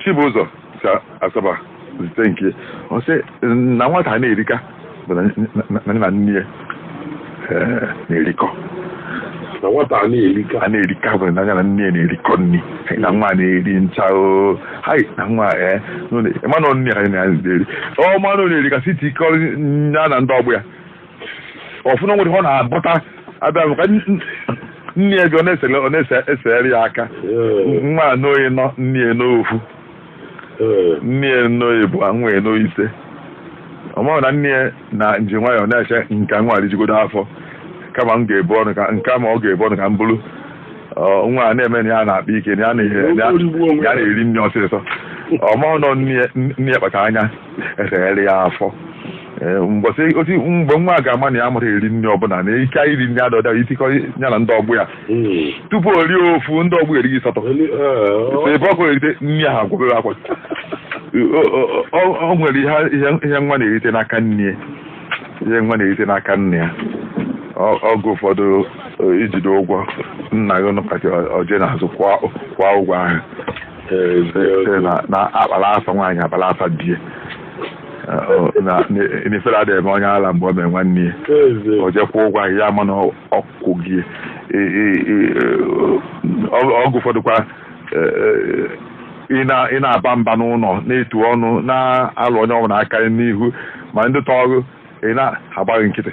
Chibụzọ si Asaba zite nke ọ sị na nwata a na-erika bụ na nne na nne ya eh, na-erikọ na nwata a na-erika a na-erika bụ na ya na nne ya na-erikọ nri na nwa na-eri ncha o hai na nwa eh, nọ na- ịma na ọ nne ya na-eri ọ ma na ọ na-erika sị tikọọ ya na ndị ọgbọ ya ọ fụ na nwere ọ na-abọta abịa bụ ka n- nne ya bịa ọ na-esele ọ na-esere ya aka nwa a noo ịnọ nne ya noo ofu nne ya noo ịbụa nwa ya noo ise ọ maghị na nne ya na-eji nwayọọ na-eche ka nwa a rijugodu afọ kama m ga-ebu ọnụ ka nke ma ọ ga-ebu ọnụ ka m buru ọ, nwa a na-eme na ya na-akpa ike na ya na- ya- ya na-eri nri ọsịsọ ọ maghị na nne ya- nne ya kpacha anya esere ya afọ Ee, mbọsị osi mgbe nwa a ga-ama na ya amarọ eri nri ọ bụ na ike iri nri adọda i tikọ ya na ndị ọgbọ ya Mm. tupu o rie ofu ndị ọgbọ ya erie ịsatọ Only, uh, ebe ọkụ erite nri ahụ agwụ ọ bụrụ akwa O- o- o- o nwere ihe ihe- ihe nwa na-erite n'aka nne ya ihe nwa na-erite n'aka nna ya Ọ- ọgụ ụfọdụ o, i jide ụgwọ nna gị nụkata o je n'azụ kwụọ kwụọ ụgwọ ahụ sị na na akpara afa nwaanyị akpara afa di ya Eh, ọ- na na- na ifere adịghị eme onye ala mgbe ọ mee nwanne ya o je kwụọ ụgwọ ahụ ya ama na ọ kwụgo ya E- e- e- ọ- ọgụ ụfọdụkwa e, e, ị na- ị na-aba mba n'ụlọ na-etu ọnụ na-alụ onye ọbụla aka n'ihu ma ndị tọrọ ị na-agba gị nkịtị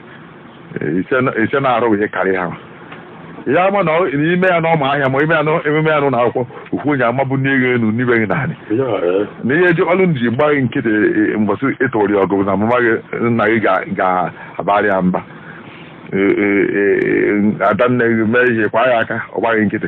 ị sị na-arụ ihe karịa ha ya ama na i mee ya na ọma ahịa ma i mee ya na emume ya na ụlọ akwụkwọ ukwu onye amabụ n'ego elu n'ibe gị naanị na ihe ji ọlụ ji gba gị nkịtị mbọsị ị tụrụ ya ọgụ na mama gị nna gị ga-abarị ya mba adanne gị mee ihe kwa ya aka ọ gba gị nkịtị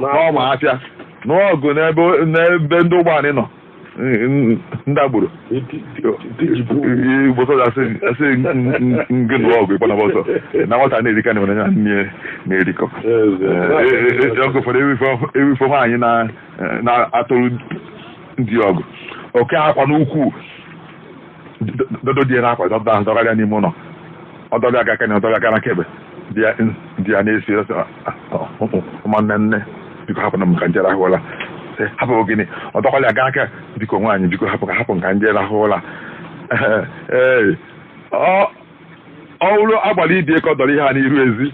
n'ọma afịa nụọ ọgụ n'ebe n'ebe ndị ụgbọala nọ ndị agboro igbo sọja a sị gị nụọ ọgụ ị gbanaba ọsọ na nwata na-erika na ya na nne na-erikọ ọgụ ụfọdụ ewifo nwaanyị na-atụrụ di ọgụ o kee akwa n'ukwu dọdo di ya n'akwa dọba ahụ dọgara ya n'ime ụlọ ọ dọga aka kene dọga aka na kebe di ya di ya na-asị ọsọ ụmụnne nne biko hapụ nụ m ka m je rahụ ụla hapụ gịnị ọ dọkwala ya gaa aka biko nwaanyị biko hapụ ka hapụ m ka m je rahụ ụla ee ọ wụrụ agbara ibie ka ọ dọrọ ihe a n'iru ezi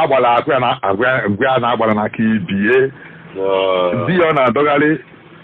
agbara agwa ya na agwa ya na agbara na-aka ibie di ya ọ na-adọgharị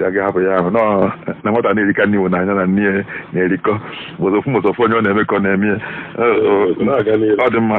ya ga hapụ ya ahụ nọọ na nwata na-erika na ọ wụ na ya na nne ya na-erikọ mụzọfụ mụzọfụ onye ọ na-eme ka ọ na-eme ya Ee, ọ dị mma